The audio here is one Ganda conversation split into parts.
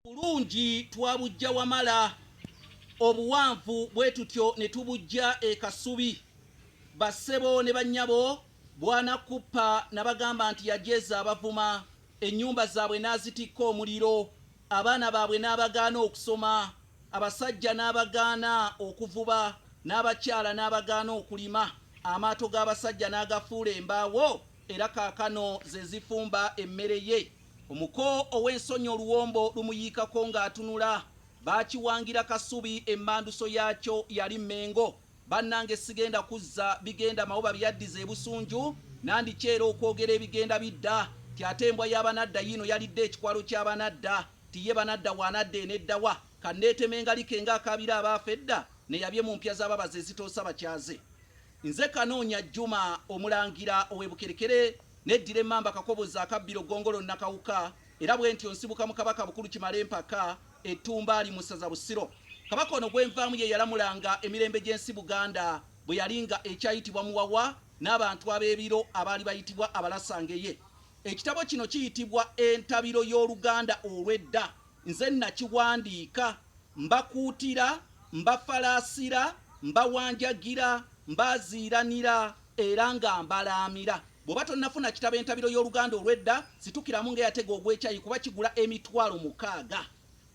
Obulungi twabujja Wamala, obuwanvu bwe tutyo ne tubujja e Kasubi. Bassebo ne bannyabo bwanakkuppa nabagamba nti yajeeza abavuma, ennyumba zaabwe n'azitikka omuliro, abaana baabwe n'abagaana okusoma, abasajja n'abagaana okuvuba, n'abakyala n'abagaana okulima, amaato g'abasajja n'agafuula embaawo era kaakano ze zifumba emmere ye. Omuko ow'ensonyi oluwombo lumuyiikako ng'atunula. Baakiwangira Kasubi emmanduso yaakyo yali Mmengo. Bannange sigenda kuzza bigenda mawoba bye yaddiza e Busunju, nandikyeera okwogera ebigenda bidda nti ate embwa ya Banadda yiino yalidde ekikwalo kya Banadda. Nti ye Banadda w'anadda enedda wa? Ka nneeteme engalike ng'akaabira abaafa edda neyabye mu mpya z'ababazi ezitoosa bakyaze. Nze Kanoonya Juma, Omulangira ow'e Bukerekere, neddira Emmamba Kakobozzi akabbiro Gongolo Nakawuka era bwentyo nsibuka mu Kabaka Bukulu Kimalempaka e Ttumbaali mu Ssaza Busiro. Kabaka ono gwenvaamu ye yalamulanga emirembe gy'ensi Buganda bwe yali nga ekyayitibwa Muwawa n'abantu ab'ebiro abaali bayitibwa Abalasangeye. Ekitabo kino kiyitibwa Entabiro y'Oluganda olw'edda. Nze nnakiwandiika, mbakuutira, mbafalaasira, mbawanjagira, mbaaziiranira, era nga mbalaamira. Bw'oba tonnafuna kitabo Entabiro y'Oluganda Olw'Edda, situkiramu ng'eyatega ogw'ekyayi kuba kigula emitwalo mukaaga.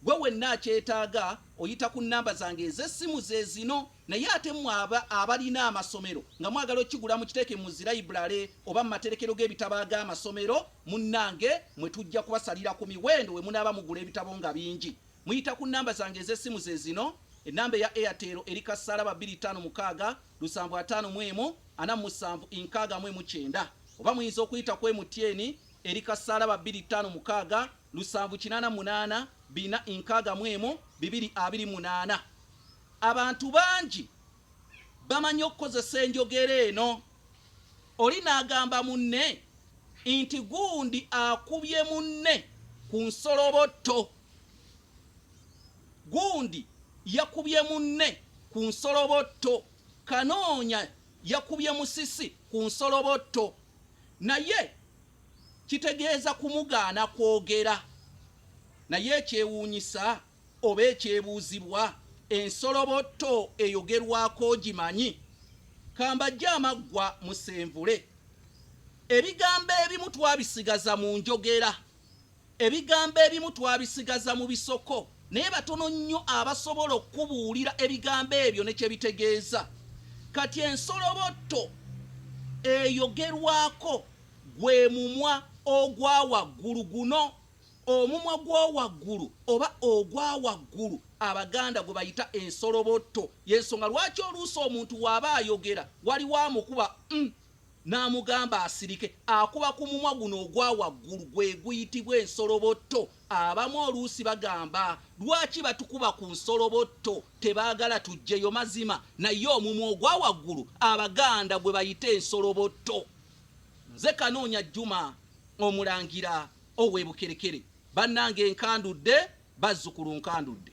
Ggwe wenna akyetaaga, oyita ku nnamba zange ez'essimu ze zino. Naye ate mmwe abo abalina amasomero nga mwagala okukigula mukiteeke mu zilayibrale oba mu materekero g'ebitabo ag'amasomero, munnange mmwe tujja kubasalira ku miwendo we munaaba mugula ebitabo nga bingi. Muyita ku nnamba zange ez'essimu ze zino, Ennamba eya Airtel eri kasaala babiri ttaano mukaaga lusanvu ataano mu emu ana mu musanvu nkaaga mu emu kyenda oba muyinza okuyita ku MTN eri kasaala babiri ttaano mukaaga lusanvu kinaana mu munaana bina nkaaga mu emu bibiri abiri munaana. Abantu bangi bamanyi okukozesa enjogera eno. Oli n'agamba munne nti gundi akubye munne ku nsolobotto. Gundi yakubye munne ku nsolobotto. Kanoonya yakubye Musisi ku nsolobotto. Naye. Kitegeeza kumugaana kwogera. Naye ekyewuunyisa oba ekyebuuzibwa, ensolobotto eyogerwako ogimanyi? Ka mbaggye amaggwa musenvule. Ebigambo ebimu twabisigaza mu njogera Ebigambo ebimu twabisigaza mu bisoko, naye batono nnyo abasobola okukubuulira ebigambo ebyo ne kye bitegeeza. Kati ensolobotto eyogerwako gwe mumwa ogwa waggulu guno. Omumwa gw'owaggulu oba ogwa waggulu Abaganda gwe bayita ensolobotto. Y'ensonga lwaki oluusi omuntu w'aba ayogera waliwo amukuba mm N'amugamba asirike. Akuba ku mumwa guno ogwa waggulu gwe guyitibwa ensolobotto. Abamu oluusi bagamba, Lwaki batukuba ku nsolobotto? Tebaagala tuggyeyo mazima. Naye omumwa ogwa waggulu Abaganda gwe bayita ensolobotto. Nze Kanoonya Juma, Omulangira ow'e Bukerekere. Bannange nkandudde, bazzukulu nkandudde.